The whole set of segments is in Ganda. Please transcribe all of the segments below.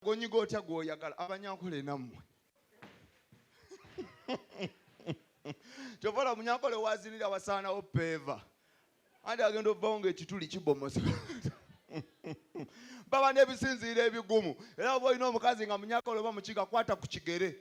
gonyiga otya gwoyagala abanyankole nammwe kyovala munyankole wazinira wasaanawo peeva andi agenda ovawo nga ekituli kibomosa baba nebisinziira ebigumu era oba olina omukazi nga munyakole oba mukiga kwata ku kigere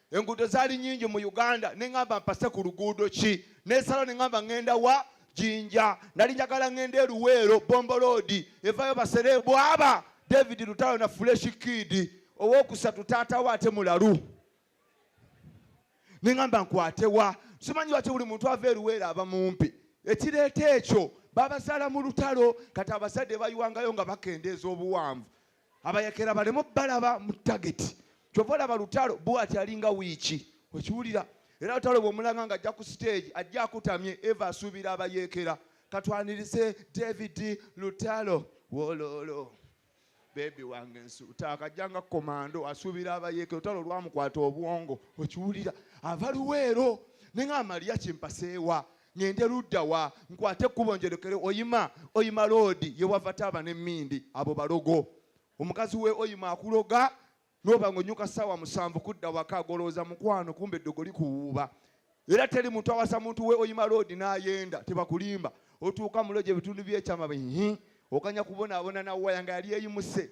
enguudo zaali nyingi mu uganda neŋamba mpase ku luguudo ki nesalo neŋamba ŋenda wa jinja nali njagala ŋenda eruweero bomboloodi evayo basere bwaba david lutalo na fuleshi kiidi owokusatu taatawo ate mulalu neŋamba nkwatewa simanyi waki buli muntu ava eruweero aba mumpi ekireeta ekyo babazaala mu lutalo kati abazadde bayiwangayo nga bakendeeza obuwanvu abayekera baleme balaba mu tageti kyova olaba lutalo bwati alinga wiiki okiwulira era lutalo bwomulanga nga ajja ku siteegi ajja akutamye eva asuubira abayekera katwanirize david lutalo wololo bebi wange nsuuta akajja nga komando asuubira abayekera lutalo olwamukwata obwongo okiwulira ava luweero nenga amaliya kimpaseewa ŋŋende ludda wa nkwate ekkubo njolekere oyima oyima loodi ye wava taaba n'emmindi abo balogo omukazi we oyima akuloga noba ng'onyuka ssaawa musanvu kudda waka golowooza mukwano kumba eddogo likuwuuba era teri muntu awasa muntu we oyima loodi n'ayenda tebakulimba otuuka mulo gye bitundu by'ekyama bihi okanya kubonaabona na waya nga yali eyimuse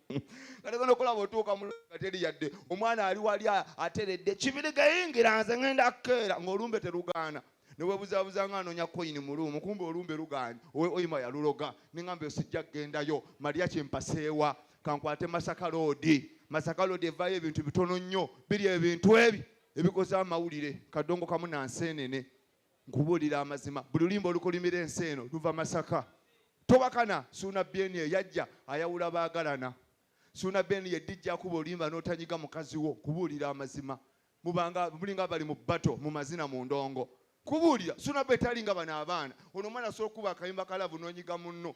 kategenda okulaba otuuka muluga teri yadde omwana ali wali ateredde kibiriga yingira nze ngenda kukeera ng'olumbe terugaana newebuzabuza nga anonya koyini muluumu kumba olumbe luganye oyima yaluloga nengamba osijja kugendayo malya kyempaseewa kankwate masaka loodi masaka loodi evayo ebintu bitono nnyo biri ebintu ebi ebikoze amawulire kadongo kamu nansenene Nkubuulira amazima, buli lulimba olukolimira ensi eno luva Masaka. Towakana Suuna Beni eyajja ayawula baagalana. Suuna Beni ye dijja akuba olimba n'otanyiga mukazi wo. Kubuulira amazima, mubanga mulinga abali mu bato mu mazina mu ndongo. Kubuulira Suuna Beni tali nga bano abaana. Ono omwana asobola okukuba akayimba ka laavu n'onyiga munno.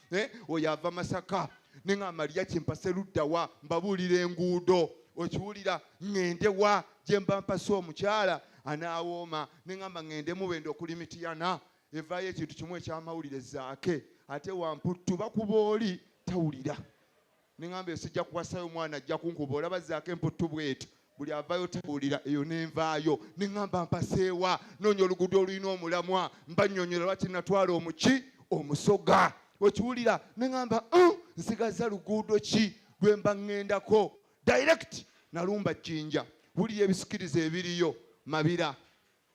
eh, oyo ava masaka ne nga amaliya kyempase luddawa mbabuulira enguudo okiwulira ŋŋende wa gye mba mpasa omukyala anaawooma ne ŋamba ŋŋende mubende okuli mitiyana evaayo ekintu kimu ekyamawulire zaake ate wamputtu bakuba oli tawulira Nengamba esijja kuwasayo omwana ajja kunkuba olaba zaako emputtu bweti buli avayo tawulira eyo nenvaayo nengamba mpaseewa noonya oluguudo olulina omulamwa mba nyonyola lwaki natwala omuki omusoga okiwulira nengamba uh, nsigaza luguudo ki lwemba ŋŋendako direct nalumba jjinja wulira ebisikiriza ebiriyo mabira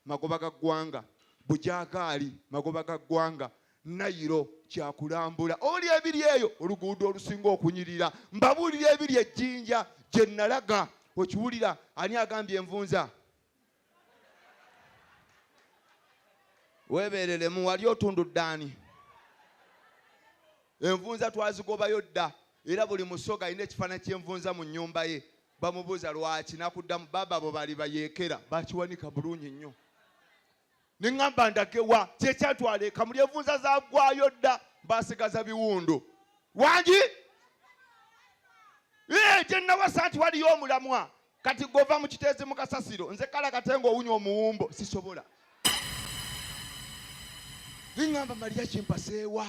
magoba ga ggwanga bujagaali magoba ga ggwanga nayiro kyakulambula oli ebiri eyo oluguudo olusinga okunyirira mbabuulira ebiri ejjinja gye nalaga okiwulira ani agambye envunza weebereremu wali otundu ddaani envunza twazigobayo dda era buli musoga alina ekifaananyi ky'envunza mu nnyumba ye bamubuuza lwaki nakuddamu baba bo bali bayeekera bakiwanika bulungi nnyo neŋŋamba ndagewa kyekyatwala eka muli envunza zagwayo dda basigaza biwundu wangi gye nawasa nti waliyo omulamwa kati gova mu kiteezi mu kasasiro nze kala kate ng'owunya omuwumbo sisobola neŋŋamba maliya kimpaseewa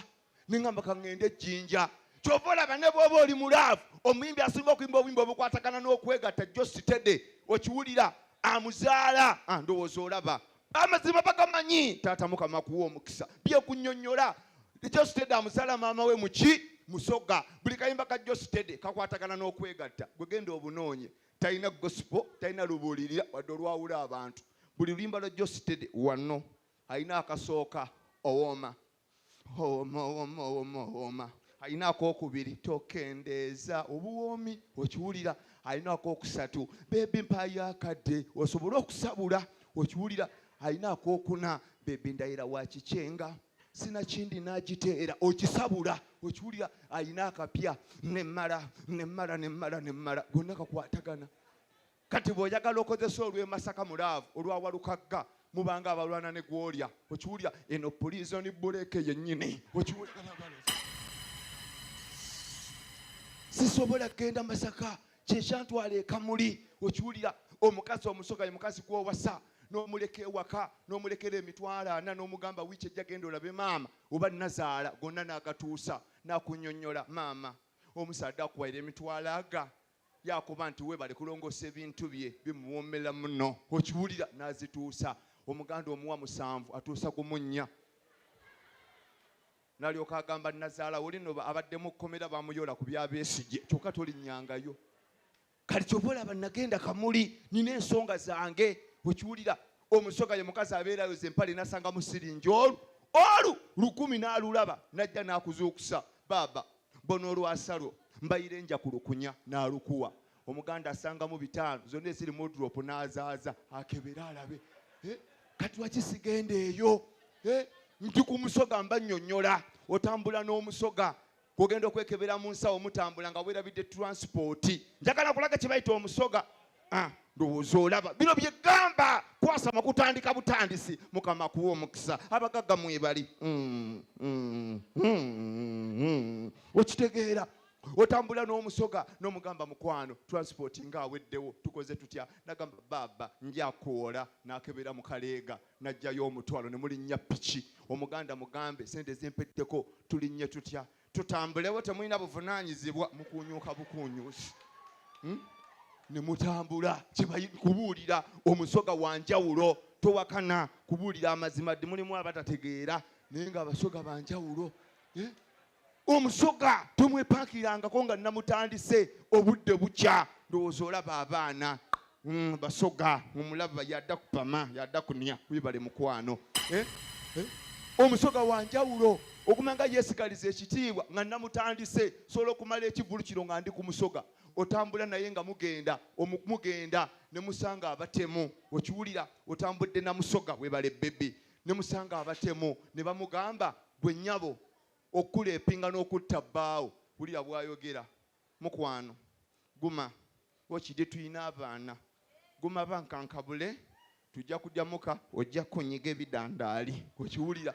nengamba kaŋŋende ejjinja kyova olaba ne bwoba oli mulaavu omuyimbi asinga okuyimba obuyimba obukwatagana n'okwegatta jjo sitede okiwulira amuzaala ah, ndowooza olaba amazima bagamanyi taata mukama kuwa omukisa byekunyonyola jositede amuzaala maama we muki musoga buli kayimba ka jositede kakwatagana n'okwegatta gwegenda obunoonye talina gosipo talina lubuulirira wadde olwawula abantu buli luyimba lwa jositede wanno alina akasooka owooma omaomaomaoma alina akokubiri tokendeeza obuwoomi okiwulira alina akokusatu bebi mpayo akadde osobole okusabula okiwulira alina akokuna bebi ndayira wakikyenga sinakindi nagiteera okisabula okiwulira alina akapya nemala nemala nemala nemala gonna kakwatagana Kati bw'oyagala okozesa olw'e Masaka mu laavu, olwa Walukagga mubanga abalwana ne gw'olya. Okiwulira? Eno pulizoni bbuleeke yennyini. Okiwulira? sisobola kugenda masaka kyekyantwala ekamuli okiwulira omukazi omusoga ye mukazi gwowasa nomuleka ewaka nomulekera emitwalo ana nomugamba wiiki ejja genda olabe maama oba nazaala gonna nagatuusa nakunyonyola maama omusaadde akuwaira emitwalo aga Yakuba nti webale kulongosa ebintu bye bimuwomela muno okiwulira nazituusa omuganda omuwa musanvu atuusa gumu nnya nalyoka agamba nazaala woli no abadde mu kkomera bamuyola ku bya Besigye kyokka tolinnyangayo kati kyova olaba nagenda kamuli nina ensonga zange okiwulira omusoga ye mukazi abeerayo ze mpale nasanga musiringi olu olu lukumi n'alulaba najja n'akuzuukusa baaba bona olwasa lwo mbayire nja ku lukunya nalukuwa omuganda asangamu bitaano zonna eziri mudrop nazaaza akebere alabe eh, kati wakisigenda eyo eh, ndi ku musoga mba nyonyola otambula n'omusoga kugenda okwekebera mu nsawo mutambula nga werabidde transpoti njagala kulaga kyebayita omusoga Ah, ndowooza olaba bino byegamba kwasama kutandika butandisi mukama kuwa omukisa abagagga mwebali mm, mm, mm, okitegeera otambula n'omusoga n'omugamba mukwano transport nga aweddewo tukoze tutya nagamba baaba njakuwola nakebera mu kaleega najjayo omutwalo ne mulinnya piki omuganda mugambe sente ezimpeddeko tulinnye tutya tutambulewo temulina buvunanyizibwa mukunyuka bukunyusi hmm? nemutambula kubuulira omusoga wanjawulo towakana kubuulira amazima ddi mulimu abatategeera naye nga abasoga banjawulo eh? omusoga tomwepakirangako nga namutandise obudde bukya ndowooza olaba abaana Mm, basoga omulaba yada kupama yada kunia wibale mukwano eh? Eh? omusoga wanjawulo okumanga yesigaliza ekitiibwa nga namutandise sobola okumala ekivulu kino nga ndi ku musoga otambula naye nga mugenda mugenda ne musanga abatemu okiwulira otambudde na musoga webale bebi ne musanga abatemu ne bamugamba gwe nyabo okuleepinga n'okutta bbaawo wulira bwayogera mukwano guma wakide tulina abaana guma bankankabule tujja kujja muka ojja kunyiga ebidandaali okiwulira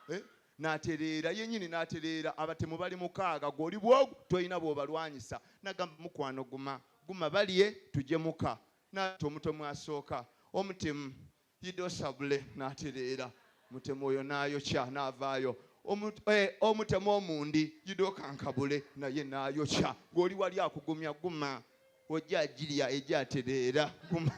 eh? natereera yenyini natereera abatemu bali mukaaga gwoli bwogu tolina bwobalwanyisa nagamba mukwano guma guma balye tujje muka nati omutomu asooka omutemu Yido Sabule n'atereera mutemu oyo n'ayokya n'avaayo eh, omutemu omundi Yido Kankabule naye n'ayokya ng'oli wali akugumya guma ojja agirya ejja atereera guma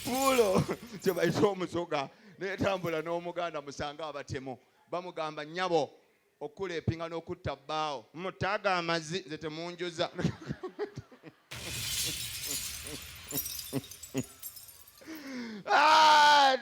puulo kyebayita omusoga netambula n'omuganda musanga abatemu bamugamba nyabo okuleepinga n'okutta bbaawo mutaaga amazi nze temunjuza ah,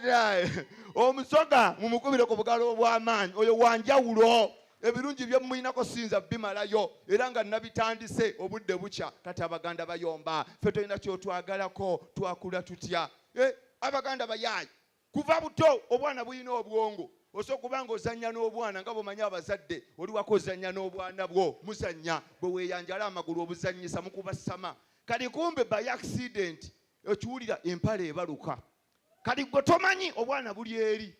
omusoga mumukubire ku bugalo obw'amaanyi oyo wanjawulo ebirungi byemuyinako siyinza bimalayo era nga nabitandise obudde bukya kati abaganda bayomba fe tolina kyotwagalako twakula tutya eh, abaganda bayaayi kuva buto obwana bulina obwongo osobola kuba nga ozannya n'obwana nga bwomanyi abazadde oliwako ozannya n'obwana bwo muzannya bwe weeyanjala amagulu obuzannyisa mukubasama kati kumbe by accident okiwulira empale ebaluka kati gwe tomanyi obwana buli eri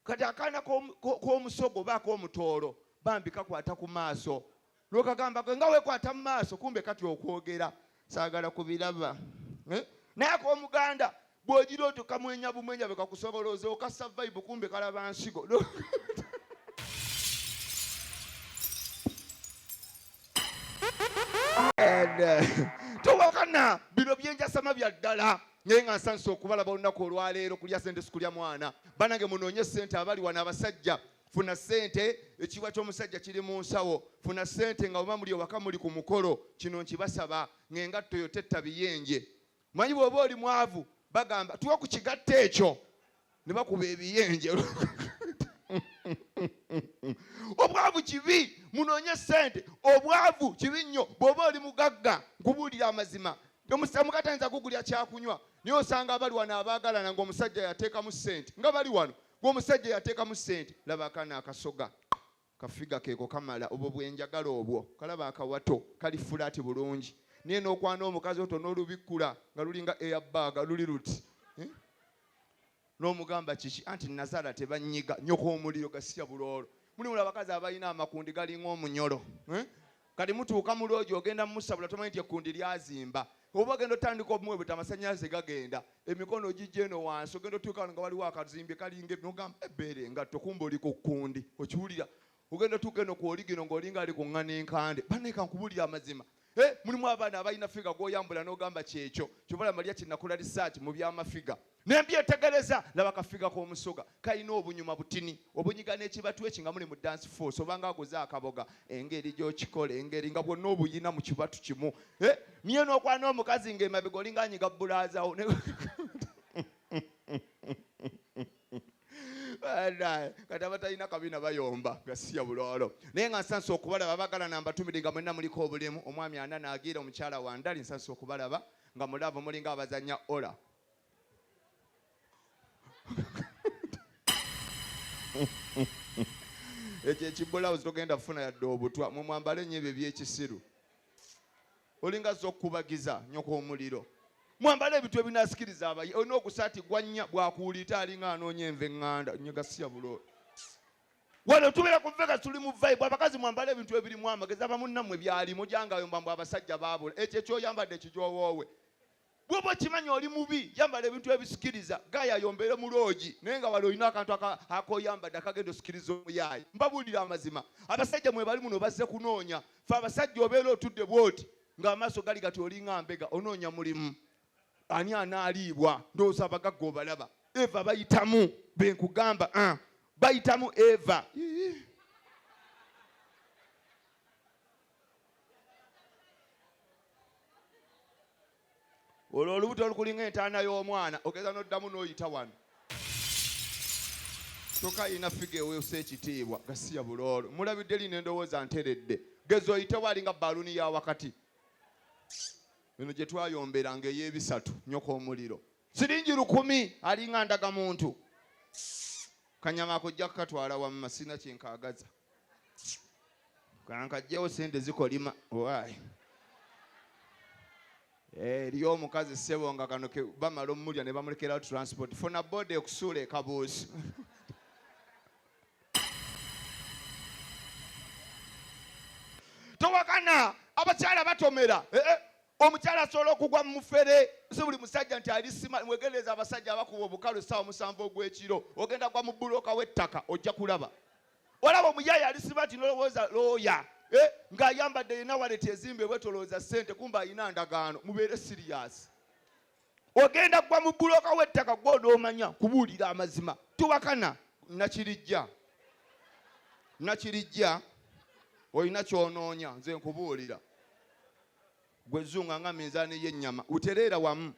kati akaana k'omusogo oba ak'omutoolo bambi kakwata ku maaso lwokagamba gwe nga wekwata mu maaso kumbe kati okwogera saagala kubiraba eh? naye akomuganda bwogira oto kamwenya bumwenya bekakusoboloza okassa vibe kumbe kalaba nsigo eh, towakana bino byenjasama bya ddala naye nga nsanisa okubalaba olunaku olwaleero kulya sente sikulya mwana banange munoonye sente abali wano abasajja funa sente ekiwa kyomusajja kiri mu nsawo funa sente nga oba muli ewaka muli ku mukolo kino nkibasaba ngaengatto yo tetta biyenje manyi bwoba oli mwavu bagamba tuwa ku kigatta ekyo ne bakuba ebiyenje obwavu kibi munoonye sente obwavu kibi nnyo bwoba oli mugagga nkubuulira amazima omukatanza kugulya kyakunywa naye osanga abali wano abaagalana ngaomusajja yateekamu sente nga bali wano gwomusajja yateekamu sente laba akana akasoga kafiga keeko kamala obwo bwenjagala obwo kalaba akawato kali fulaati bulungi naye nokwana omukazi oto nolubikkula nga lulinga eyabbaaga luli luti eh? nomugamba kiki anti nazaala tebanyiga nyoko omuliro gasiya buloolo mulimu abakazi abalina amakundi galinga omunyolo eh? Kati mutuuka mu loogi ogenda mumusabula tomanyi nti ekkundi lyazimba. Oba ogenda otandika obumwebeta amasannyalaze gagenda, emikono ogijja eno wansi ogenda otuuka wano nga waliwo akazimbi kalinga ebi n'ogamba ebbeere engatto kumbe oli ku kkundi okiwulira. Ogenda otuuka eno ku oligino ng'olinga ali ku ŋŋana enkande. Bannaye ka nkubuulire amazima. Eh, mulimu abaana abalina ffiga gw'oyambula n'ogamba kyekyo. Ky'ova olaba Maria Kinakula Research mu by'amafiga. ne mbyetegereza laba kafiga k'omusoga kalina obunyuma butini obunyiga n'ekibatu eki nga muli mu dance force oba nga aguze akaboga engeri gy'okikola engeri nga bwonna obuyina mu kibatu kimu eh, niye n'okwana n'omukazi ng'emabega olinga anyiga bulaazawo kati abatalina kabina bayomba gasiya bulolo naye nga nsansa okubalaba bagala nambatumide nga mwena muliko obulimu omwami ana nagira omukyala wandali nsansa okubalaba nga mulaavu mulinga abazanya ola ekyo ekibulawuzi togenda kufuna yadde obutwa mwe mwambale nnyo ebyo ebyekisiru olinga zza okukubagiza nyoko omuliro mwambale ebintu ebinasikiriza abayi olina ogusaati gwannya bwakuwulita alinga anoonya enva eŋŋanda nyegasiya buloo wano tubeera ku vega tuli mu vibe abakazi mwambale ebintu ebirimu amagezi abamunnamwe byalimu gyangayo mbambu abasajja baabula ekyo ekyoyambadde ekijowoowe bwoba okimanyi oli mubi yambala ebintu ebisikiriza gaya yombere mu loogi naye nga wali olina akantu akoyambadde akagenda osikiriza omuyaayi mbabuulira amazima abasajja mwe bali muno bazze kunoonya fe abasajja obeera otudde bwoti ng'amaaso gali gati olinga mbega onoonya mulimu ani anaaliibwa ndowooza abagagga obalaba eva bayitamu benkugamba ah, bayitamu eva olwo olubuto lukulinga entaana y'omwana ogeza n'oddamu n'oyita wano kyokka yina figa eweesa ekitiibwa gasiya buloolo mulabidde lino endowooza nteredde geza oyite waali nga baluuni ya wakati eno gye twayomberanga ey'ebisatu nyoka omuliro siringi lukumi alinga ndaga muntu kanyama akojja kukatwala wamma sirina kyenkaagaza kankajjewo sente zikolima owaayi eh, eriyo omukazi ssebo nga kano bamala omulya ne bamulekerawo transport funa boda ekusuula ekabuusi towakana abakyala batomera eh, eh. omukyala asobola okugwa mumufere si buli musajja nti alisima mwegendereza abasajja abakuba obukalu saawa omusanvu ogwekiro ogenda gwa mu buloka w'ettaka ojja kulaba olaba omuyaye alisiba nti nolowooza looya eh, ng'ayambadde yenna waleti ezimba ebwetolooza ssente kumba alina ndagaano mubeere siriyasi ogenda gwa mu buloka w'ettaka gwe onoomanya kubuulira amazima tubakana nakirijja nakirijja olina kyonoonya nze nkubuulira gwe zunga nga minzaani y'ennyama utereera wamu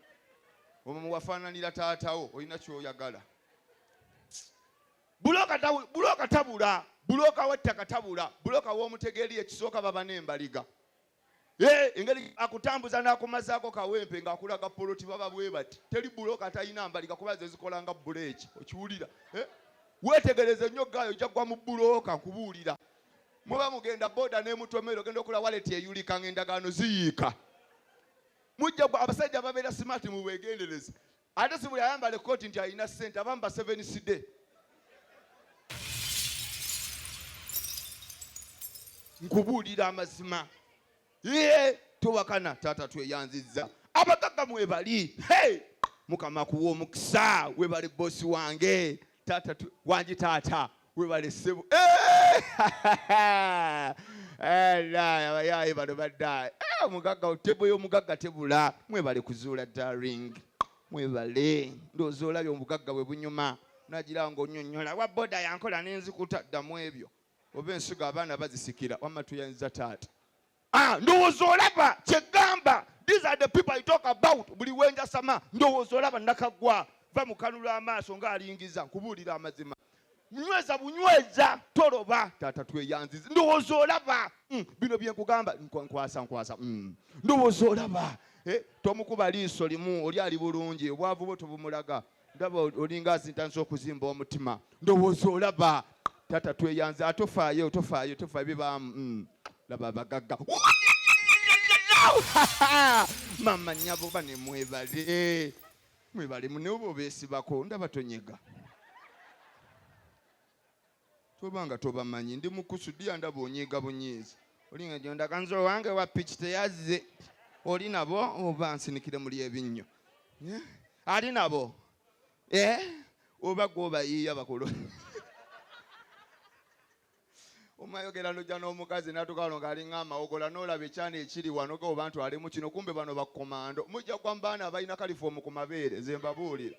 omumu wafaananira taatawo olina kyoyagala Bulooka tabu- bulooka tabula bulooka w'ettaka tabula bulooka w'omutegeeri ekisooka baba n'embaliga Eh, engeri akutambuza n'akumazaako kawempe ng'akulaga poloti baba bwe bati teri bulooka atalina mbaliga kuba ze zikola nga buleeki okiwulira Eh, weetegereze nnyo gaayo ojja kugwa mu bulooka nkubuulira muba mugenda boda n'emutomero ogenda okula waleti eyulika ng'endagaano ziyiika mujja gwa abasajja ababeera simaati mubeegendereze Ate si buli ayambala ekkooti nti alina ssente abamu baseveniside. Nkubuulira amazima ye towakana taata tweyanzizza abagagga mwebali hey! mukama kuwa omukisa webale bosi wange taata wangi taata webale ssebo abayaye bano badda omugagga tebo y'omugagga tebula mwebale kuzuula daring mwebale ndoozi olabye omugagga bwe bunyuma nagira nga onyonyola wa boda yankola nenzikuta ddamu ebyo oba ensigo abaana bazisikira wamma tuyanza taata Ah, ndowooza olaba kyegamba these are the people i talk about buli wenjasama ndowooza olaba nakaggwa va mu kanula amaaso ng'alingiza nkubuulira amazima nyweza bunyweza toloba taata tweyanziza ndowooza olaba mm, bino byenkugamba nkwasa nkwasa mm. ndowooza olaba eh, tomukuba liiso limu oli ali bulungi obwavu bwo tobumulaga ndaba olinga azintanisa okuzimba omutima ndowooza olaba tata tweyanze ate ofaayo tofaayo tofaayo bibaamu mm. laba abagagga mama nyabo bane mwebale mwebale muneobo besibako ndaba tonyega toba nga tobamanyi ndi mukusu dia ndaba onyiiga bunyiizi olinga gyondaga nze owange wa piki teyazze oli nabo oba nsinikire muli ebinnyo eh? ali nabo eh? oba gwobayiiya bakulu omayogera noja n'omukazi natukalo nga alinga amawogola nolaba ekyana ekiri wano ge oba ntu alimu kino kumbe bano bakomando mujja kwa mbaana abalina kalifomu ku mabeere nze mbabuulire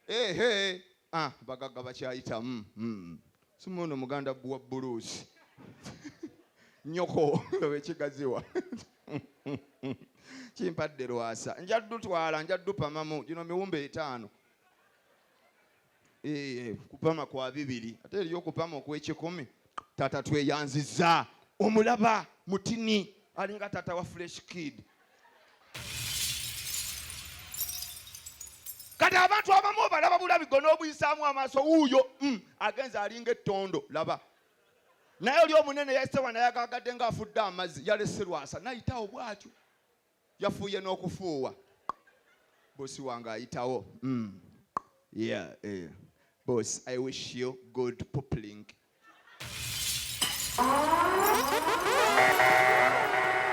ehe ah, bagagga bakyayitamu mm. sima ono muganda buwa buluusi nyoko ekigaziwa kimpadde lwasa nja dutwala nja dupamamu gino miwumba etaano eh, kupama kwa bibiri ate eriyo okupama okwekikumi tata tweyanziza omulaba mutini alinga tata wa fresh kid kati abantu abamu obalaba bulabi gona obuyisaamu amaaso wuuyo mm, agenza alinga ettondo laba naye oli omunene yasewa naye agagadde nga afudde amazzi yalese lwasa nayitawo bwatyo yafuuye n'okufuuwa bosi wange ayitawo mm. yeah, yeah. boss i wish you good pupling